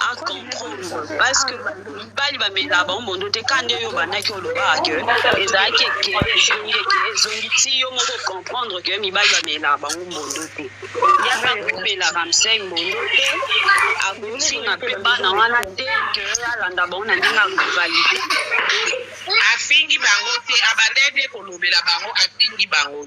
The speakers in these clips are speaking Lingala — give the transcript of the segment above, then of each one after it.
a comprendre parce que mibali bamelaka bango mondo te ka nde yo obandaki olobaka ke ezalaki eke ezongi eke ezongi ti yo moko comprendre ke mibali bamelaka bango mondo te yaka komelaka msei mondo te akotinga mpe bana wana te ke alanda bango na ndenge ya rivalite afingi bango te abandaki nde kolobela bango afingi bango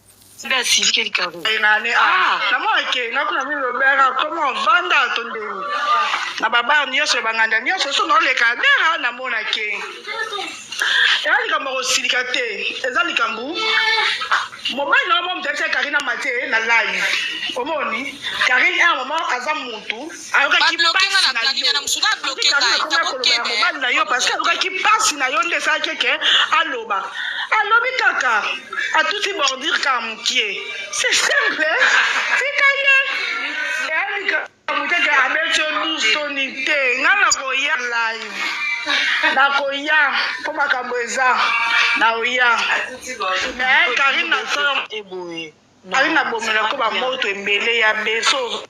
nde asilike likabo enane ah, ah. na mwana ke na kuna mi lobera koma vanda to ndeni na babar nyonso ya banganda nyonso so naoleka adera na mwana ke eza likambo ya kosilika te eza likambo mobali na yo mo motalisa karine amate na live omoni karine a mama aza mutu ayokaki mobali na yo parce que ayokaki mpasi na yo nde esalaki eke aloba alobi kaka atuti bordure kaka mokie c'est simple tika ye mokeke abeti yo lusoni te nga nakoya live nakoya mpo makambo eza naoya me karine na solo eboye karine abomela ko bamoto ebele ya beso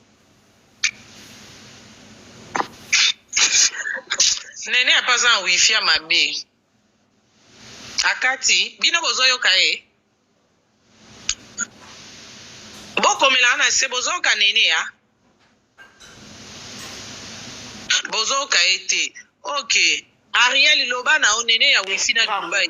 nene apa aza na wifi ya mabe akati bino bozoyoka ye bokomelaka na se bozoyoka nene ya bozoyoka ye te ok ariel loba na yo nene ya wifi na dubai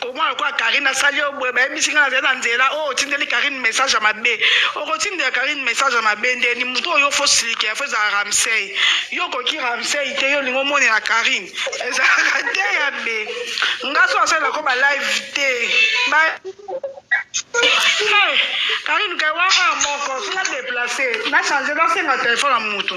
komona lokola karine asali yo boye bayebisi ngai nazali na nzela oyo oh, otindeli karine message ya mabe okotindela karine message ya mabe ndeni moto oyo fo silike ya fo ezala ramsey yo okoki ramsey te yo olingi omonela karine ezalaka te ya be nga so asalela ko balive te karine kai wana moko sina deplace na change nasenga telefone ya moto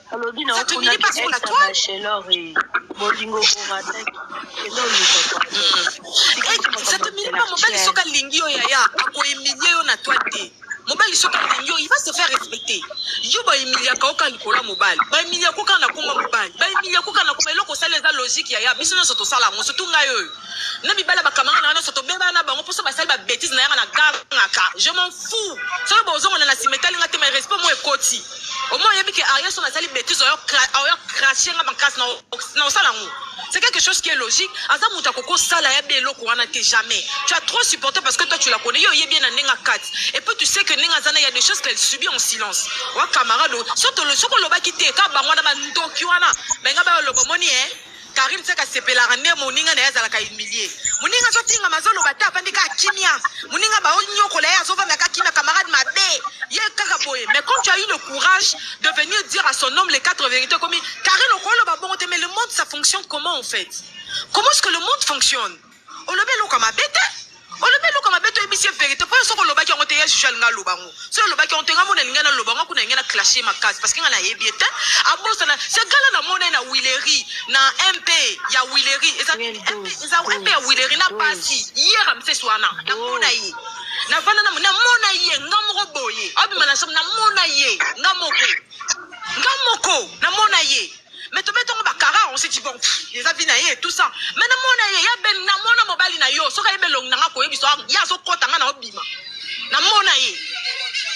alobi na okuna ex bachelor bolingo orataki kende oluka satemili mpa mobali soki alingi yo yaya akoemilie yo na toi te mobali soki alingi yo il va se faire respecter yo baemiliaka oka likolo ya mobali baemiliaka oka na koma mobali baemiliaka oka na koma eloko osali eza logique yaya biso nyonso tosala yango surtout ngai oyo na mibala bakamanga na nga nyonso tobebana na bango mposo basali babetise na yanga na gangaka je m'en fou soki bozongana na sima etali nga te mai respect mo ekoti Omo oyebi que Ariel son asali bêtise oyo oyo cracher nga makasi na na osala ngo. C'est quelque chose qui est logique. Aza muta koko sala ya belo ko wana te jamais. Tu as trop supporté parce que toi tu la connais. Yo yebi na nenga kat. Et puis tu sais que nenga zana il y a des choses qu'elle subit en silence. Wa camarade, soto le soko lobaki te ka bango na ba ndoki wana. Benga ba lobo moni eh. Carine seka sepelaka nde moninga na ye azalaka humilie moninga azotingama azoloba te afandi kaka kimia moninga baonyokola ye azovanda kaka kimia camarade mabe ye kaka boye mais comme tu as eu le courage de venir dire à son homme les quatre vérités okomi Carine okoloba bongo te mais le monde ça fonctionne comment en fait comment est-ce que le monde fonctionne olobi eloko ya mabe te olobi eloko ya mabe toyebisi ye verité mpo yo soki olobaki yango te ya juge alinga aloba yango soki olobaki yango te nga mona alinga naloba yango kuna alinga na clashe makasi parce que nga nayebi ye te abosana se gala na mona ye na wileri na mp ya wileri eza mp ya wileri na pasi yera msesi wana namona ye navanda namona ye nga moko boye abima na somo namona ye nga moko nga moko namona ye mais tobe tongo ba kara on se dit bon eza vie na ye tout ça mais na mona ye ya ben na mona mobali na yo soki ayebe elongi na nga koyebisa ah, ye azokota nga na obima na mona ye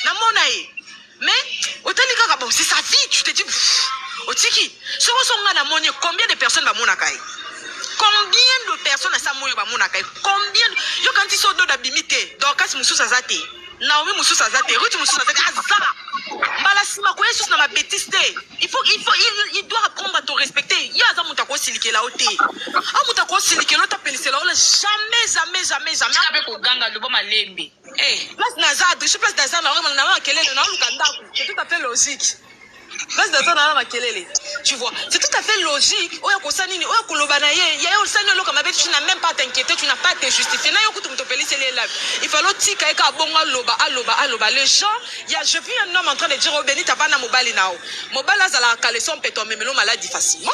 na mona ye mais otali kaka bon c'est sa vie tu te dis otiki soki oso nga na moni ye combien de personnes bamonaka ye combien de personnes asa moyo bamonaka ye combien yo kanti so doda bimi te dorcas mosusu aza te Naomi mususu aza te, Ruth mususu aza te, aza. Mbala sima ko yesus na ma betise te. Il faut il faut il, il doit apprendre à te respecter. Yo aza muta ko silikela ote. A muta ko silikela ta pelisela ola jamais jamais jamais jamais. Tika pe ko ganga lobo malembe. Eh, place na za adresse place na za na na kelele na luka ndaku. C'est tout à fait logique. Base naza na makelele. Tu vois, c'est tout à fait logique. Oya kosa nini? Oya koloba na ye. Ya yo sani oloka mabe, tu n'as même pas t'inquiéter, tu n'as pas te justifier. Na yo kutu moto pelisi le lab. Il fallait tika eka abongo aloba, aloba, aloba. Les gens, il y a je puis un homme en train de dire au Benita bana mobali nao. Mobali azala caleçon peto memelo maladie facilement.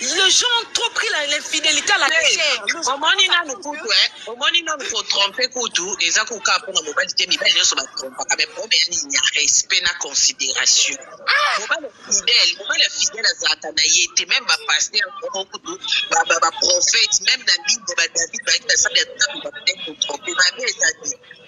Les gens ont trop pris l'infidélité à la légère. Omoni na nukutu eh. Omoni nanu ko tromper kutu eza kutu kaka pona mobali te, mibali nyonso ba trompaka mais problème ya nini ya respect na consideration. Mobali ya fidèle, mobali ya fidèle azalaka na ye te meme ba pasteurs moko kutu ba ba, ba prophètes meme na Bible ba David bayaki basali ya Nzambe ba ko tromper mabe eza nini?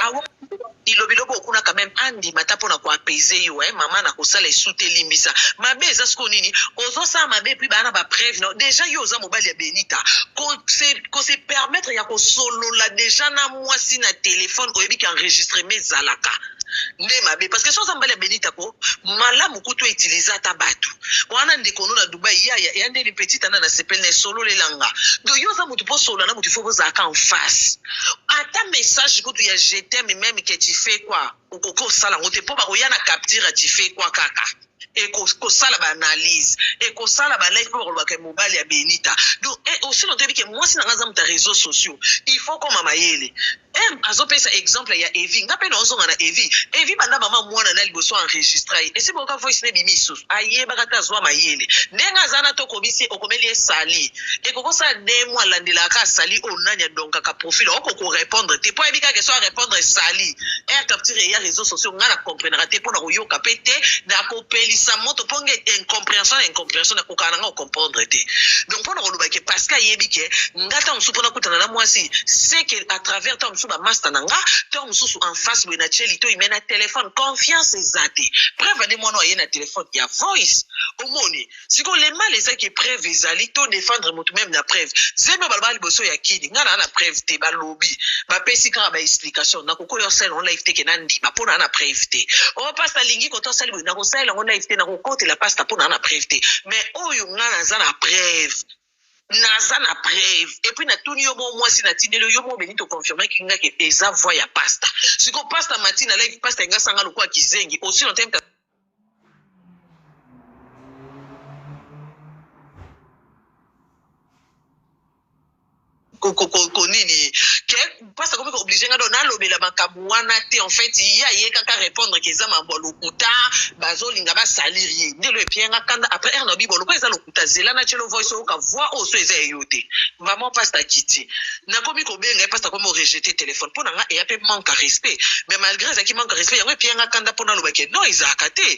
Awa bilo bilo bo kuna quand même andima ata pona ko apaiser yo hein maman na kosala esu te limbisa mabe eza siko nini ozo sala mabe puis bana ba preuve non déjà yo oza mobali ya Benita ko se ko se permettre ya ko solola déjà na mwasi na téléphone oyebi ki enregistrement ezalaka nde mabe parce que soki oza mobali ya Benita ko malamu kutu utiliser ata batu Wana ndeko no na Dubai ya ya ya nde ni petit ana na sepel na solo le langa. Do yo za mutu po solo na mutu fo bo za ka en face. Ata message kutu ya je t'aime meme que tu fais quoi ou ko ko sala ngote po ba ko ya na capture tu fais quoi kaka. Et ko ko sala ba analyse et ko sala ba live po ko ba ke mobali ya Benita. Do et aussi no te bi ke mwasi na nga za mutu ya reseaux sociaux. Il faut ko mama yele. Herm azo pesa exemple ya Evi nga pe nao zonga na Evi Evi banda maman muana na liboso enregistra ye esi boyoka voice na ebimi lisusu ayebaka te azua mayele ndenge aza na to komisi ye okomeli ye sali ekoki osala deux mois alandelaka kaka sali oyo nani adonkaka profil oko ko repondre te po ayebi kaka eso a repondre sali Herm capture eya reseaux sociaux nga na comprenaka te po na koyoka pe te na kopelisa moto po nga incomprehension na incomprehension na kokana na nga comprendre te donc mpo na koloba ke parce que ayebi ke nga ntango mosusu mpo nakutana na mwasi se ke à travers ntango mosusu bamasta na nga ntango mosusu en face boye na tie litoi mai na telefone confiance eza te preuve ade mwana aye na telefone ya voice omoni sikoyo le mal eza ke preuve ezali to défendre motu meme na preuve zemi baloba liboso ya kini nga naa na preuve te balobi bapesi kaka ba explication nakokoya osala yango live te ke nandima mpo naa na preuve te o oh, pasi alingi koto asali boye nakosalela yango live te Kotela pasta mpo na na preuve te mais oyo nga naza na preuve naza na preuve epuis natuni yo moo mwasi natindeli yo yo moo beni toconfirmaki nga ke eza voi ya pasta siko pasta mati na live pasta enga sanga lokola kizengi osi na time ko nini que pasi akomi ko oblige nga donc na lobela makambu wana te en fait ye aye kaka repondre que eza makambu ya lokuta bazo linga ba salir ye nde eloko epiye nga kanda après heure nalobi bon lokola eza lokuta zela na tiela yo voice oyoka voix oyo soki eza ya yo te vraiment pasi akiti nakomi ko benga ye pasi akomi ko rejeter telephone pona nga eya pe manque ya respect mais malgre ezalaki manque ya respect yango epiye nga kanda po naloba que non ezalaka te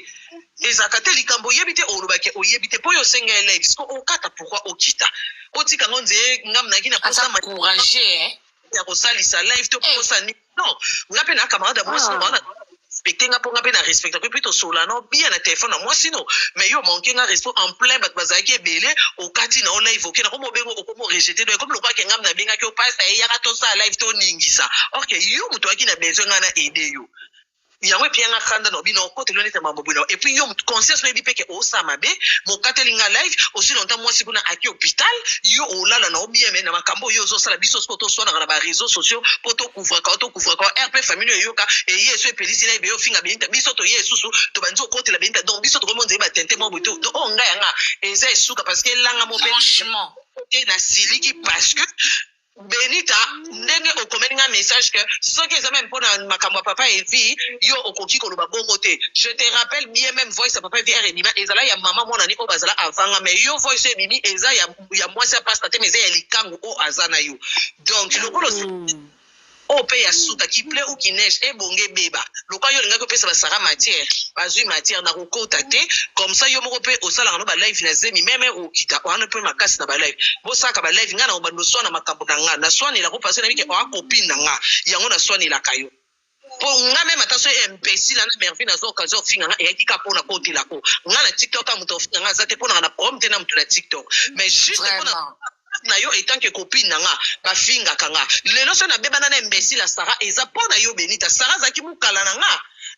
ezalaka te likambu oyebi te oloba que oyebi te po yo osenga ye live sikoyo okata pourquoi okita botika yango nzee nga mnaki na posa courage eh. ya kosalisa live to eh. posa nini non nga mpe na camarade ya mwasi ah. na respecte nga mpo nga mpe na respecte mpe tosola no bia na telefone na mwasi no mais yo manke nga resto en plein bato bazalaki ebele okati na yo live oke na komi obengo okomi orejete do ekomi lokola kengam na bengaki yo pasi eyaka tosala live toningisa orke yo moto oyaki na besoin ngai na aide yo yango epiya nga kanda na obino okoteli nete mambo boye na epuis yo conscience oyebi mpe ke osala mabe bokateli nga live osi longtemps mwasi kuna aki hôpital yo olala na obieme na makambo oyo ozosala biso siko toswanaka na ba réseaux sociaux mpo tokouvraka o tokouvraka o rp famille oyo eyoka eye eso epelisi na ebe ofinga benita biso toye esusu tobandi okotela benita donc biso tokomi onzeye batente mwa boye to do oyo ngai yanga eza esuka parce que elanga mo mpe franchement te nasiliki parce que Benita ndenge okomeli nga message que soki eza meme pona makambo ya papa Evi yo okoki koloba bongo te je te rappelle bien meme voice ya papa Evi heure ebima ezala ya maman mwana ne oyo bazala avant nga mais yo voice oyo ebimi eza ya mwasi ya pasta te mais eza ya likangu oyo aza nayo donc lokola Oyo pe ya suka qui pleut ou qui neige ebonga ebeba lokola yo olingaki opesa ba Sarah matière bazui matière na kokota te comme ça yo moko pe osalaka no ba live na zemi meme okita oa no pe makasi na ba live bosalaka ba live nga na obanda osuana makambu na nga na suanela ko parce nayebi ke oa copine na nga yango na suanelaka yo po nga meme ata soki imbecile na merveille na zua occasion ofinga nga eyaki ka pona kotela ko nga na tiktok ka moto afinga nga aza te ponaka na problème te na moto na tiktok mais juste pona Vraiment. Ex na yo etant que copine na nga ba fingaka nga lelo soki na bebana na imbecile ya Sarah eza po na yo Benita Sarah azalaki mukala na nga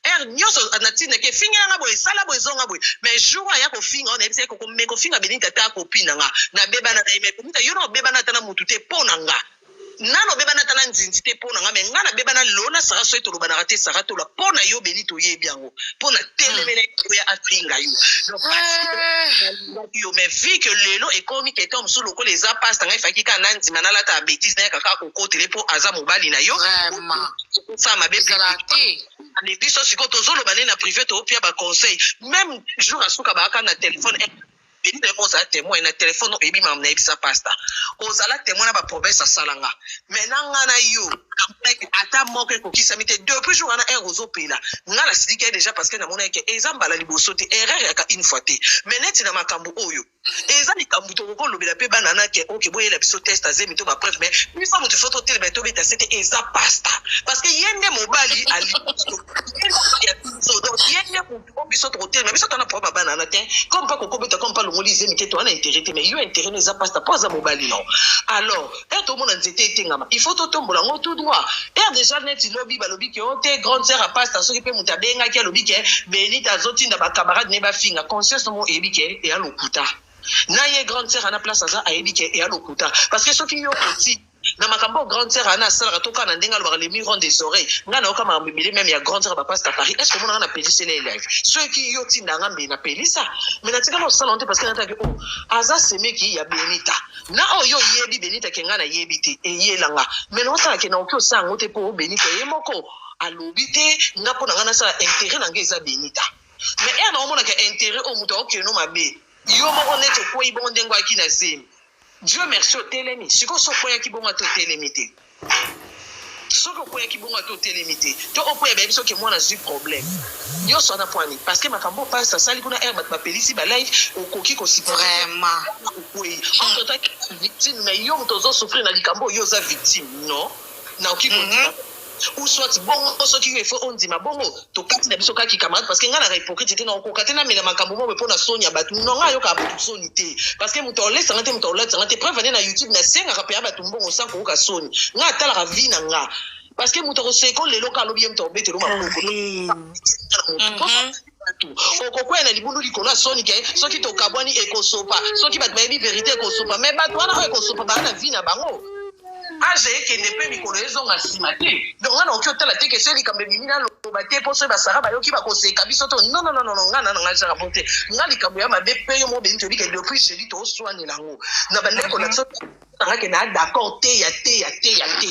heure nioso na tindaki ye fingela nga boye sala boye zonga boye mais jour oyo aya ko finga yo na yebisa ye ko ko mais ko finga Benita ta copine na nga na bebana na ye mais Benita yo na obebana ata na mutu te po na nga Nanu abebana ata na nzinzi te pona nga mais nga na beba na lelo na Sarah soki tolobanaka te Sarah tola pona yo Beni toyebi yango pona telemela hmm. oya afinga yo donc nalingaki yo mais vu que lelo ekomi quelqu'un mosusu lokola eza pasta ngai faki kaka nandima nalata betise nayaka kaka kokotele mpo aza mobali na yo sa mabe mais biso sikoyo tozoloba nde na privé toopia baconseil même jour asuka baaka na telefone Denis na yo moko ozala temoin na telefone oyebi makambo nayebisa pasta ozala temoin na bapromese asala nga mai na nga na yo amonaki ata moko ekokisami te depuis jour wana heure ozopela nga nasilikaki deja parce que namonaki ke eza mbala liboso te erreur yaka une fois te mai neti na makambo oyo eza likambo tokoki kolobela mpe bana na ke oke boyela biso test azemi to bapreuve mai biso moto fo totelema tobeta sete eza pasta parce que ye nde mobali ali ye nde mobali ya biso donc ye nde po biso tokotelema biso tana po babana na te comme pa kokobeta comme pa longoli zemi te toana intérêt te mais yo intérêt no eza pasta po aza mobali no alors e tomona nzete etengama il faut totombola yango tout droit ere déjà neti lobi balobi ke o oh, te grande sœur ya pasta soki mpe moto abengaki alobi ke benita azotinda bacamarade ne bafinga conscience nomo eyebi ke eya lokuta na ye grande sœur ana place aza ayebi ke eya lokuta parce que soki yo oti na makambo oyo grande sœur ana asalaka to kaka na ndenge alobaka le mur des oreilles nga nayoka makambo ebele meme ya grande sœur bapasta paris est ce omonaka na pelisela ye live soki yo tinda nga mbe na pelisa me natikala osala ngo te parce que nataki o oh, aza semeki ya benita na oyo yo oyebi benita ke nga nayebi te eyela nga me naosala ke naoki osala yango te mpo benita ye moko alobi te nga mpo na nga nasala intérêt na nga eza benita me ere naomonaka intérêt oyo moto aokende no mabe yo moko neti okwei bongo ndenge ayaki na zemi Dieu merci otelemi sikoyo so okweyaki bongo ata otelemi te soki okweyaki bongo ata otelemi te to okweya bayebi soki mwana azwi problème nyonso wana pwani parce que makambo pasi asali kuna ere bato bapelisi balife okoki kosipraimaokwei ototakivictime mais yo moto ozosouffrir na likambo oyo oza victime non naoki kondima mhm. ou soit bongo soki yo il faut ondima bongo tokati na biso kaka ki camarade parce que nga na hypocrite te na okoka te na mela makambo moko mpo na soni ya bato non nga ayoka bato soni te parce que moto aolesa nga te moto aolatisa nga te preuve ane na youtube na sengaka mpe ya bato mbongo sans koyoka soni nga atalaka vie na nga parce que moto akoseko lelo ka alobi ye moto akobetelo maboko bato okokwea na libulu likolo ya soni ke soki tokabwani ekosopa soki bato bayebi verite ekosopa me bato wana oyo ekosopa baa na vi na bango age ekende mpe mikolo ezonga nsima te donc nga naoki otala te kesoi likambo ebimi naloba te mpo soki basara bayoki bakoseka biso to nonononono nga nana ngai ezaka mpo te nga likambo ya mabe mpe yo mobeni toyebi ke depuis jedi tooswanela yango na bandeko na biso nangake na d'accord te ya te ya te ya te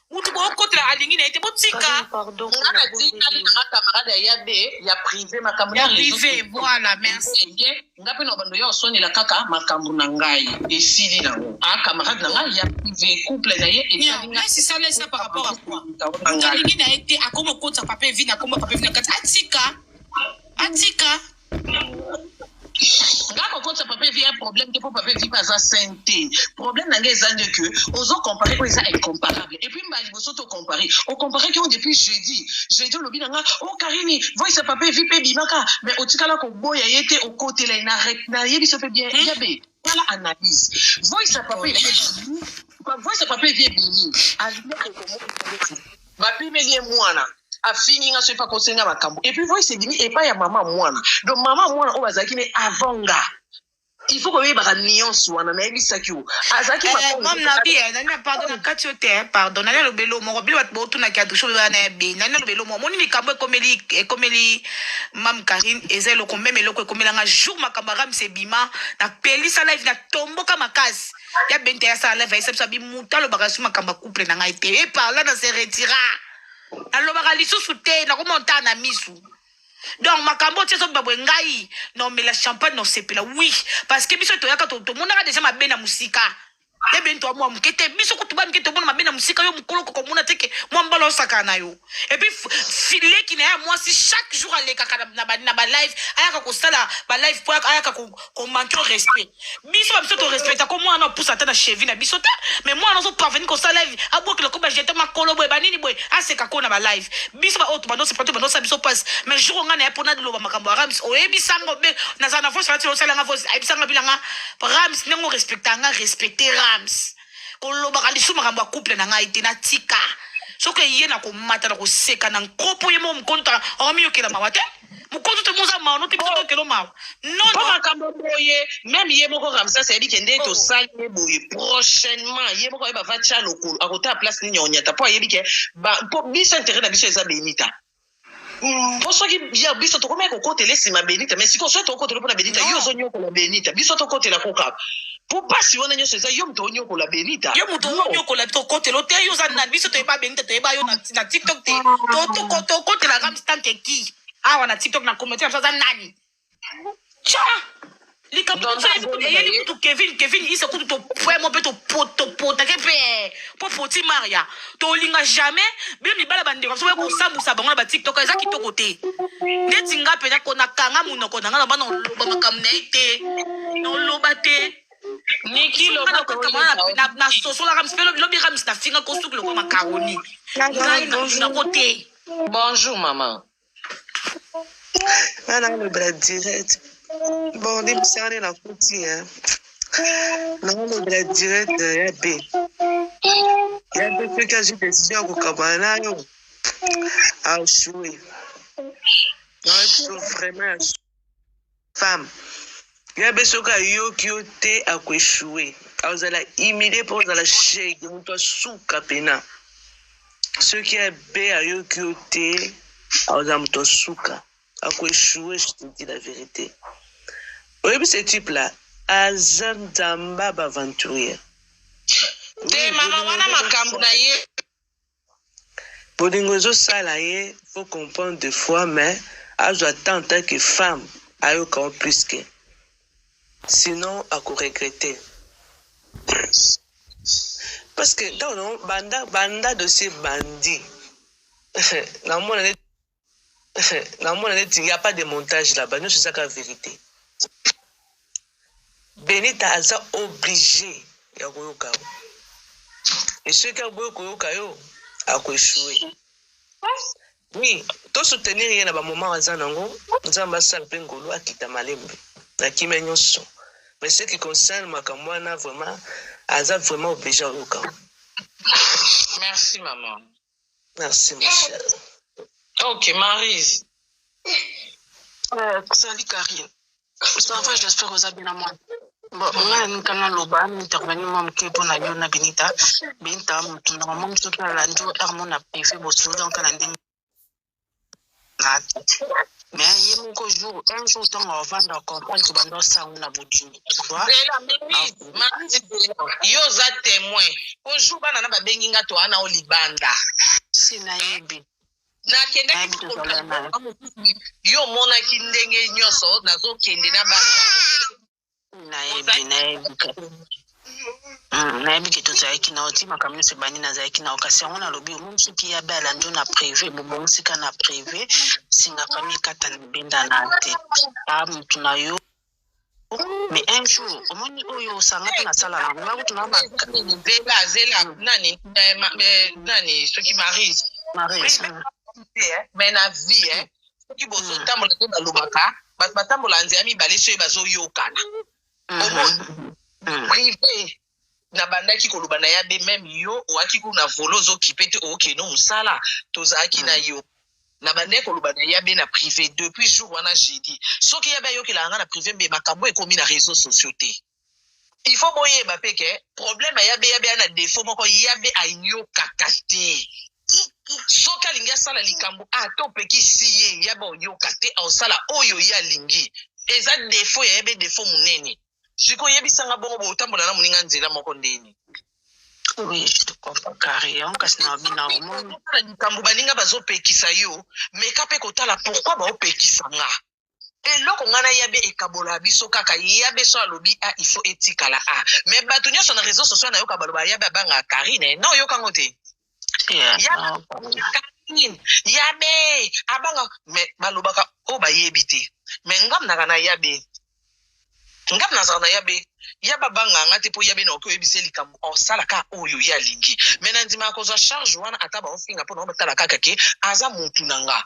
mutu bokotela alingi na ye te botika nga natikali na nga camarade ya yabe ya prive makambo ya prive voilà merci nga mpe na bando ya osonela kaka makambo na ngai esili nango a camarade na ngai ya prive couple na ye esalisalesa par rapport à quoi alingi na ye te akoma okotisa pape vi na komba pape vi na kati atika atika nga kokotisa papa evi ya problème te mpo papa evi mpe aza saine te problème na ngai eza nde ke ozo compare oyo eza incomparable epuis mbala liboso to compare ocomparaki yango depuis jeudi jeudi olobi na nga o oh, karini voice ya papa evi mpe ebimaka mais otikala koboya ye te okotela ye nayebisa mpe bien yabe tala analyse voice ya papa voice ya papa evie bini babimeli ye mwana afingi nga soki akosenga makambo epuis voice ebimi epai ya mama mwana donc mama mwana oyo azalaki ne avant nga il faut koyebaka nuance wana nayebisaki yo azalaki eh, mame na bi eh, nani pardon na kati yo te eh, pardon nani alobeli yo moko bino bato boutunaki adusho bana ya be nani alobeli yo moko omoni likambo ekomeli ekomeli Mam Karine eza eloko meme eloko ekomela nga jour makambo ya Ramse ebima na pelisa live na tomboka makasi ya bente ya sala live ayesa biso abi muta alobaka su makambo ya couple na ngai te e parla na se retira nalobaka lisusu te nakomontaa na misu donc makambo oyo ti ezobima boye ngai naomela champagne naosepela oui parce que biso toyaka to- tomonaka deja mabe na mosika ebe nto mwa moke te biso kutu bamike tomona mabe na mosika yo mokolo kokomona te ke mwa mbala osakana na yo epuis leki na ye ya mwasi chaque jour alekaka na balive ayaka kosala balive po ayaka komanke respect biso ba biso torespecta ko mwana opusa ata na chevi na biso te mais mwana ozo parvenir kosala live abwakela ko bajete makolo boye banini boye aseka ko na balive biso baoyo tobandosepla to bandosala biso mpasi mais jour onga na ye mpo naloba makambo ya rams oyebisa ngo be naza na voice nati osalanga voice ayebisanga bilanga rams ndenge orespecta nga respecte rams kolobaka lisusu makambo ya couple na ngai te natika soki eye na komata na koseka na nkopo ye moko mokonto amiyokela mawa te mokonto te moza mawa no te biso tokelo mawa nopo makambo boye meme ye moko ramsas ayebi ke nde oh. tosali ye boye prochainement ye moko ayeba va tya lokolo akotala place nini ya onyata mpo ayebi ke mpo biso interet na biso eza benita Mm. po soki ya biso tokomaki kokotela esima benita mais sikoyo soki tokokotela mpona benita yo ozonyokola benita biso tokotela ko kaka po mpasi wana nyonso eza yo moto onyokola benita yo moto onyokola tokotela ote yo oza na biso toyeba benita toyeba yo na tiktok te ah. tokotelaka mstanke ki awa na tiktok na communauté na biso aza nani Tcha! likambo Tonton toyebi kutu Abonda eyeli ye. kutu kevin kevin isa kutu topwe mo mpe topo- topotake mpe mpo poti maria tolinga jamais bino mibala bandeko biso boya kosambusa bango na batiktok eza kitoko te ndeti nga mpenza ko nakanga monoko na nga na bana oloba makambo na ye te noloba te Niki Nga loba na kokanga na- toyeba. na- nasosolaka mpe lobi- lobi ramis nafinga kosuki lokola makaroni ngai na- nako te Bonjour maman. nga na lobela direct bon libisani na kuti ya na lobela direct ya be ya be soki azwi decision ya kokabana nayo ashue na biso vraiment ya femme ya be soki ayoki yo te akoechoue akozala humilie mpo ozala shege moto asuka mpena soki ya be ayoki yo te akozala moto asuka akoechoue je te dis la vérité oyebi ce type là aza nzamba baventurier te mama wana makambo na ye Bolingo ezo sala ye faut comprendre de fois mais azwa temps en tant que femme ayoka yo plus que sinon ako regretter parce que ntango na banda banda dossier bandi namona nde naomona neti ya pas de montage là-bas nyonso ezaka verité benita aza oblige ya koyoka yo e soki aboyi koyoka yo akoeshoue oui tosoutenir ye na bamoment aza nango nzambe asala mpe ngolu akita malembe na kimia nyonso mais ce qui concerne makambo wana vraiment aza vraiment oblige ayoka merci maman Merci, ma chère. Ok, Marise. Euh, salut, Karine. Ça va, j'espère que vous avez bien à moi. Bon, ngai nanika naloba intervenu mwa moke mpo na yo na benita benita motu na mama mosuki alandi yo armo na prive bosolo nka na ndenge na me ye moko jour un jour ntango avanda comprendre ke banda osango na bodimi yo oza témoin po jour bana na babengi nga to ana o libanda si nayebi nakendaki yo omonaki ndenge nyonso nazokende na bana nayebi nayebi hmm, nayebi ke tozalaki na oti makambo nyonso ebandi nazalaki na okasi yango nalobi omoni soki ya bala njo na prive bobongisika na prive singa fami ekata na benda na te a ah, motu na yo mais un jour omoni oyo osanga mpe nasala nango nakutu na zela zela nani eh, eh, nani soki marise marise eh, mais na vie soki bozotambola nde balobaka bato batambola nzela mibale soki bazoyokana prive nabandaki koloba na ya be meme yo oaki kuna volo ozokipe te okeno mosala tozalaki na yo na bandai koloba na yabe na prive depuis jour wana jeudi soki yabe ayokelaka nga na prive mbe makambo ekomi na réseau sociaux te Il faut boyeba pe ke problème ya yabe yabe ana defaut moko yabe ayokaka te soki alingi asala likambo ata opekisi ye yabe oyoka te aosala oyo ye alingi eza defaut ya yabe defaut monene siko oyebisanga bongo botambola na moninga nzela moko ndeni oui je te comprends carré yango kasi na bina omoni likambo baninga bazopekisa yo meka mpe kotala pourkui baopekisa nga eloko ngai na yabe ekabola biso kaka yabe so alobi a ah, il faut etikala a ah. mais bato nyonso na réseau social nayoka baloba yabe abanga karine eh, na oyoka ngo te karine yabe abanga mais balobaka oyo oh, bayebi te mais ngam naka na yabe ngam nazala na yabe ya babanga nga te mpo ya bena oki oyebisa ye likambo osala ka oyo ye alingi me nandimaka kozwa charge wana ata baofinga mpo na obatala kaka ke aza motu na nga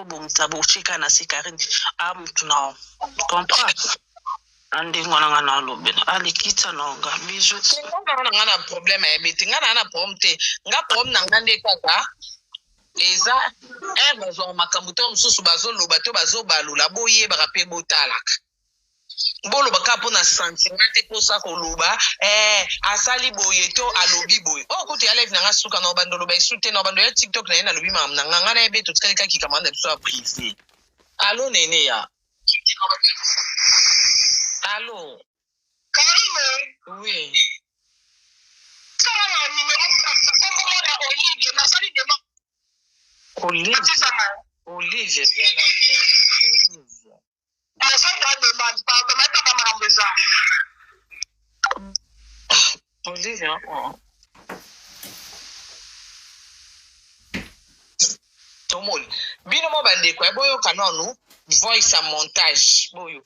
bobongisa botika na se karine amutu na comprend na ndenge wana nga na alobela alikita na nga bijo nga na nga na problème ya bete nga na na problème te nga problème na nga nde kaka eza heure bazwaka makambo to mosusu bazoloba to bazobalola boyebaka mpe botalaka boloba kaka mpo na sentiment te mposa koloba eh, asali boye to alobi boye oyo oh, kutu ya live na nga suka na obanda oloba esu te na obanda ya tiktok na ye nalobi makambo na nga nga na ye be totikali kaka likambo na biso ya prive alo nene ya alo karine oui tala na numero kombomo na olive nasali dema olive olive bien olive tomoni bino mwa bandeko ya boyoka nanu voice ya montage boyo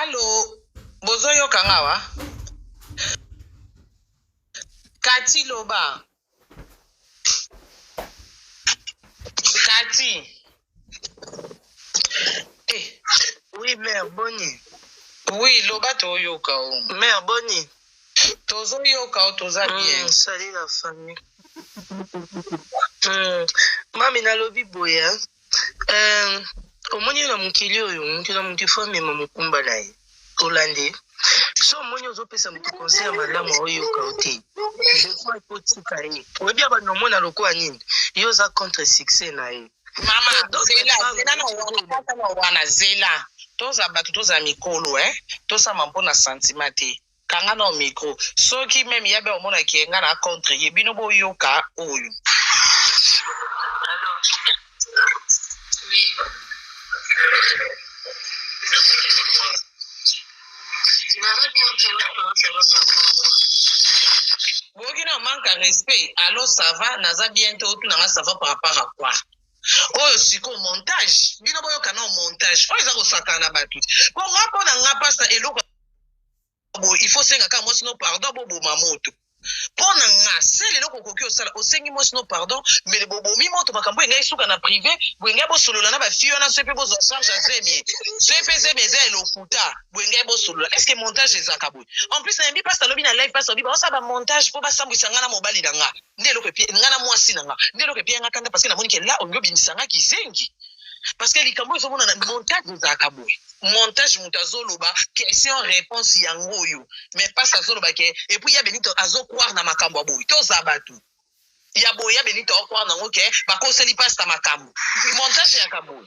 alo bozoyoka nga wa kati loba kati eh, Oui, mère, boni. oui loba toyoka o Mère, boni. Tozo yoka yo toza bien. Mm, salut la famille. Mm. Mami nalobi boye hein. Euh, omoni na mokili oyo moto na moto ifo amema mokumba na ye olandi so omoni ozopesa moto conseil ya malamu aoyoka yo te defois ekotika ye oyebi ya bando omona lokola nini yo oza contre succès na ye mama zela zela na wana kaka na wana zela toza bato toza mikolo e eh. tosama mpo na santima te kanga na micro soki meme yabe omonaki ye nga na contre ye bino boyoka oyo boyoki na manque ya respect alors ça va naza bien te otuna nga ça va par rapport à quoi oyo sikoyo montage bino boyoka nao montage oyo eza kosakana na bato te po nga mpo na nga mpasa eloko boye il faut senga kaka mwasi no pardon boboma moto pona nga sel eloko okoki osala osengi mwasi no pardon mbele bobomi moto makambo engai suka na prive boengai bosolola na bafille wana soki mpe bozwa charge ya zemi soki mpe zemi eza ya lokuta boengai bosolola estce montage ezaka boye en plus nayambi mpasi alobi na live mpasi alobi baosala bamontage mpo basambwisa nga na mobali na nga nde eloko epie nga na mwasi na nga nde eloko epie yanga kanda parce que namoni ke la olingi obimisa nga kizengi parce que likambo oyo ezomonana montage ezalaka boye montage moto azoloba question réponse yango oyo mais pasi azoloba ke epuis ya benito azokware na makambo ya boye toza bato ya boye ya benito aokware nango ke bakoseli pasta makambo montage yaka boye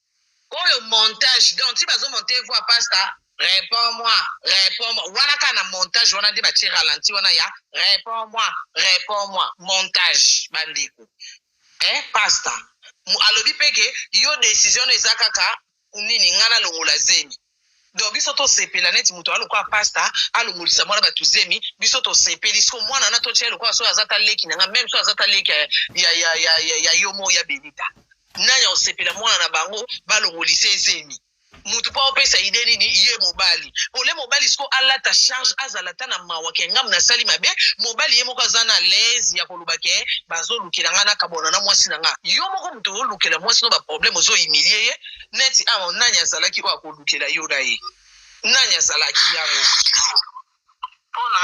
Oyo montage donc ti bazo monter voix pasta repond moi repond moi wana kaka na montage wana nde batie ralenti wana ya repond moi repond moi montage bandeko eh pasta alobi pe ke yo decision no eza kaka nini nga nalongola zemi donc biso tosepela neti moto aa lokola pasta alongolisa mwana bato zemi biso tosepeli siko mwana wana totya ye lokola soki aza ta leki na ngai meme soki aza ta leki ya, ya, ya, ya, ya, ya yo moko ya benita nani akosepela mwana na bango balongolisa ye zemi moto mpo aopesa ide nini ye mobali ole mobali siko alata charge azala ta na mawa ke ngambo nasali mabe mobali ye moko aza na laise ya koloba ke bazolukela ngai nakabwana na mwasi na ngai yo moko moto olukela mwasi no baproblème ozohumilie ye neti awa nani azalaki oyo akolukela yo na ye nani azalaki yango mpona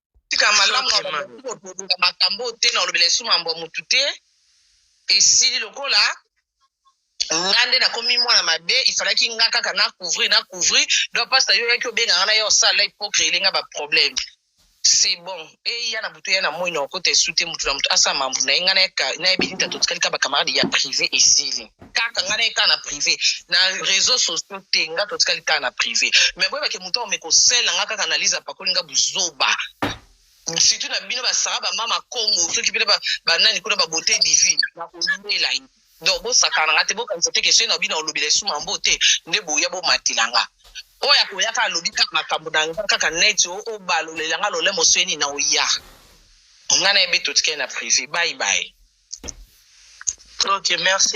tika malamu na bamosusu okolobela makambo oyo te na olobela esu mambo ya motu te esili lokola nga nde nakomi mwana mabe ifalaki nga kaka na couvrir na couvrir donc mpasi na yo oyaki obenga nga na ye osala hypocrile nga baproblème c'est bon eya na butu eya na moi na okota esu te motu na motu asala mambo na ye nga nayebini tata otikali ka bacamarade ya privé esili kaka nga naye kaka na privé na réseau sociaux te nga totikali kaka na privé mais boyebake moto aome kosela nga kaka analyse apakoli nga buzoba surtout na bino basara bamama congo soki bino banani kuna babote divine nakolela ye donc bosakana nga te bokanisa te kesoi na bino olobela esu mambo te nde boya bomatela nga oyo akoyaka alobi kaka makambo na nga kaka neti obalolela nga lolemo soyeni na oya nga na yebe totikali na privé bye bye ok merci